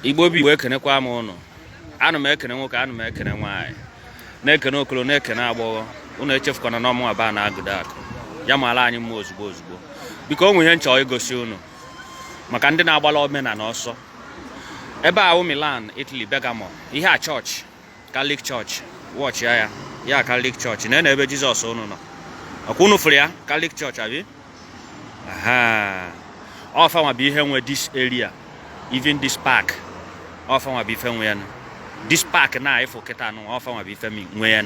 Igbo bụ Igbo ekenekwa m ụnụ ana m ekene nwoke ana m ekene nwaanyị na-ekene okolo na-ekene agbọghọ ụnụ echefukwana na ọ mụnwa ba na agụda akụ ya mara anyị mma ozugbo ozugbo biko o nwe ihe m chọ igosi ụnụ maka ndị na-agbala omenala ọsọ ebe a wụ Milan Italy Bergamo ihe a chọọchị Catholic Church watch ya ya ya Catholic Church na ebe Jizọs unu nọ ọ kwa unu fụrụ ya Catholic Church abi ọ fanwa bụ ihe nwe this area even this park ọ fanwa bụ ife nwe ya this park na ị fụ kịta nụ ọ fanwa bụ ife nwe ya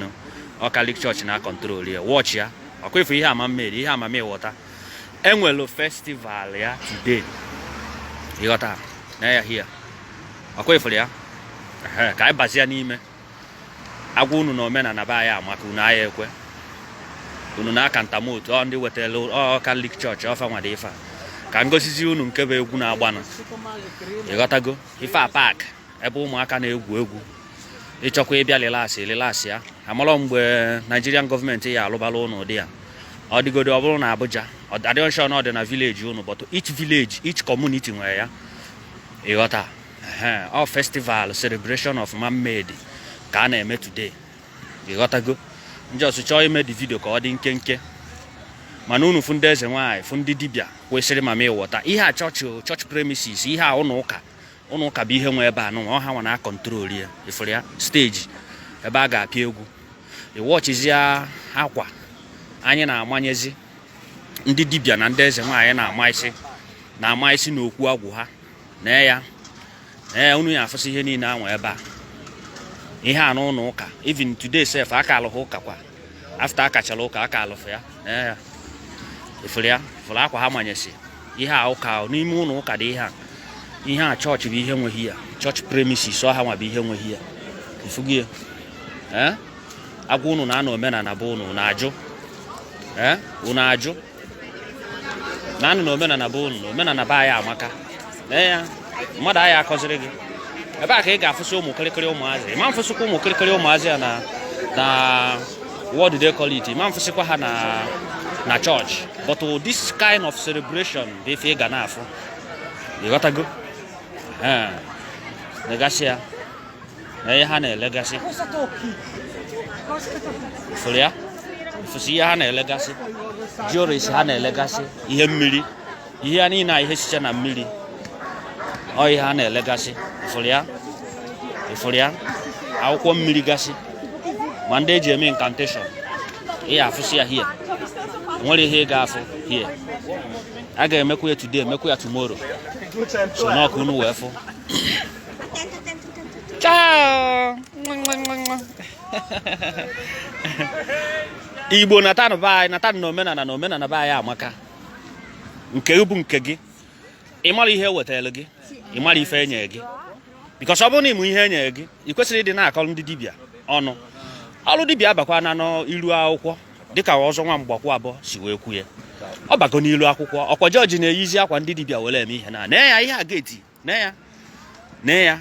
ọ Catholic Church na-control ya watch ya ọ kwa ị fụ ihe a mermaid ihe a mami wọta e nwelu festival ya today ị ghọta na ya here ọ kwa ị furu ya Ehe, ka anyị bazie n'ime a gwa unu na omenala be anyị amaka unu aya ekwe unu na-aka ntamotu ọ ndị wetara ọ Catholic Church ọ fanwa dị ife a ka m gosizi unu nke bụ egwu na-agbanụ ị ghọtago ife a park ebe ụmụaka na-egwu egwu ị chọkwa ịbịa relax relax ya amarọ mgbe Nigerian government ya alụbala ụnụ ụdị ya ọ dịgodo ọ bụrụ na abuja adịghị m sure na ọ dị na village ụnụ but each village each community nwere ya ị ghọta ọ festival celebration of mermaid ka a na-eme today ị ghọtago m just chọọ ime the video ka ọ dị nkenke mana unu fụ ndị eze nwaanyị fụ ndị dibịa kwesịrị mami wọta ihe a church church premises ihe a ụlọ ụka ụlọ ụka bụ ihe nwe ebe a nụnwa ọ hanwa na-acontrol ya ị fụrụ ya stage ebe a ga-apịa egwu ị watchizie akwa anyị na-amanyezi ndị dibịa na ndị eze nwaanyị na-ama isi na-ama isi n'okwu Agwụ ha na ya na ya unu ya afụsị ihe niile anwa ebe a ihe a n'ụlọ ụka even today sef aka alụghị ụka kwa after a kachara ụka aka alụfụ ya na ya ị fụrụ ya ị fụrụ akwa ha manyesi ihe a ụka n'ime ụlọ ụka dị ihe a ihe a church bụ ihe nwe here church premises ọ hanwa bụ ihe nwe here ị fugie ee a gwa unu na anọ omenala be unu na-ajụ ee unu ajụ na anụ na omenala be unu na omenala be anyị amaka ee ya mmadụ aya akọziri gị ebe a ka ị ga-afụsị ụmụ kịrịkịrị ụmụazị ma m fụsịkwa ụmụ kịrịkịrị ụmụazị ya na na what do they call it ma m fụsịkwa ha na na church but this kind of celebration bụ ife ị ga na-afụ ị ghọtago ee negasị ya na ihe ha na-elegasị ị fụrụ ya ị fụsị ihe ha na-elegasị jewelries ha na-elegasị ihe mmiri ihe a niile a ihe sicha na mmiri ọ ihe ha na-elegasị ị fụrụ ya ị fụrụ ya akwụkwọ mmiri gasị ma ndị eji eme incantation ị ya afụsị ya here nwere ihe ị ga-afụ here a ga-emekwa ya today emekwa ya tomorrow so na ọ ka unu wee fụ Ciao! Igbo natanụ be anyị natanụ na omenala na omenala be anyị amaka nke bụ nke gị ị mara ihe ewetara gị ị mara ife enye gị because ọ bụrụ na ị ma ihe enye gị ị kwesịrị ịdị na-akọ ndị dibịa ọnụ ọrụ dibịa abakwana n'iru akwụkwọ dịka ọzọ nwa mgbakwu abụọ si wee kwu ya ọ bago n'ilu akwụkwọ ọkwa jọji na-eyizi akwa ndị dibịa were eme ihe na nee ya ihe a gate nee ya nee ya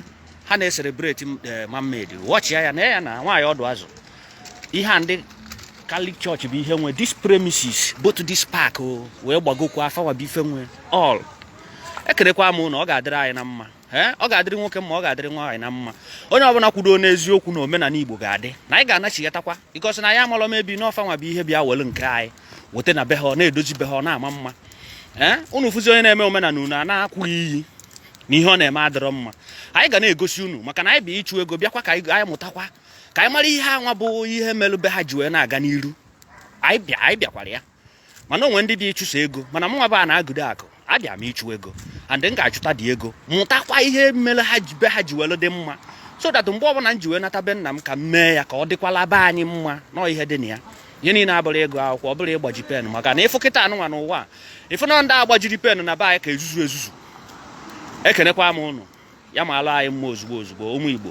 ha na-ecelebrate eh, mermaid watch ya nee ya na nwaanyị ọdụ azụ ihe a ndị Catholic Church bụ ihe nwe this premises both this park o wee gbagokwa ọ fanwa bụ ife nwe all ekwerekwa m na ọ ga-adịrị anyị na mma ee ọ ga-adịrị nwoke mma ọ ga-adịrị nwaanyị na mma onye ọbụla kwudo n'eziokwu na omenala Igbo ga-adị na anyị ga-anachigatakwa because na anyị amalọ mebi na ọ fanwa bụ ihe bịa welu nke anyị weta na be ha ọ na-edozi be ha ọ na-ama mma ee unu fụzi onye na-eme omenala unu a na-akwụ iyi na ihe ọ na-eme adịrọ mma anyị ga na-egosi unu maka na anyị bịa ịchụ ego bịakwa ka anyị mụtakwa ka anyị mara ihe a nwa bụ ihe melu be ha ji wee na-aga n'iru anyị bịakwara ya mana o nwe ndị bịa ịchụ sọ ego mana mụnwa bụ a na-agụdo akụ abịa m ịchụ ego and m ga-achụtadị ego mụtakwa ihe mere ha ji be ha ji welu dị mma so that mgbe ọbụla m ji wee nata be nna m ka m mee ya ka ọ dịkwala be anyị mma na ọ ihe dị na ya ihe niile abụrọ ịgụ akwụkwọ ọ bụrọ ịgbaji pen maka na ị fụ kịtaa nụnwa n'ụwa ị fụ na ndị a gbajiri pen na be anyị ka ezuzu ezuzu ekenekwa m unu ya maalụ anyị mma ozugbo ozugbo ụmụ Igbo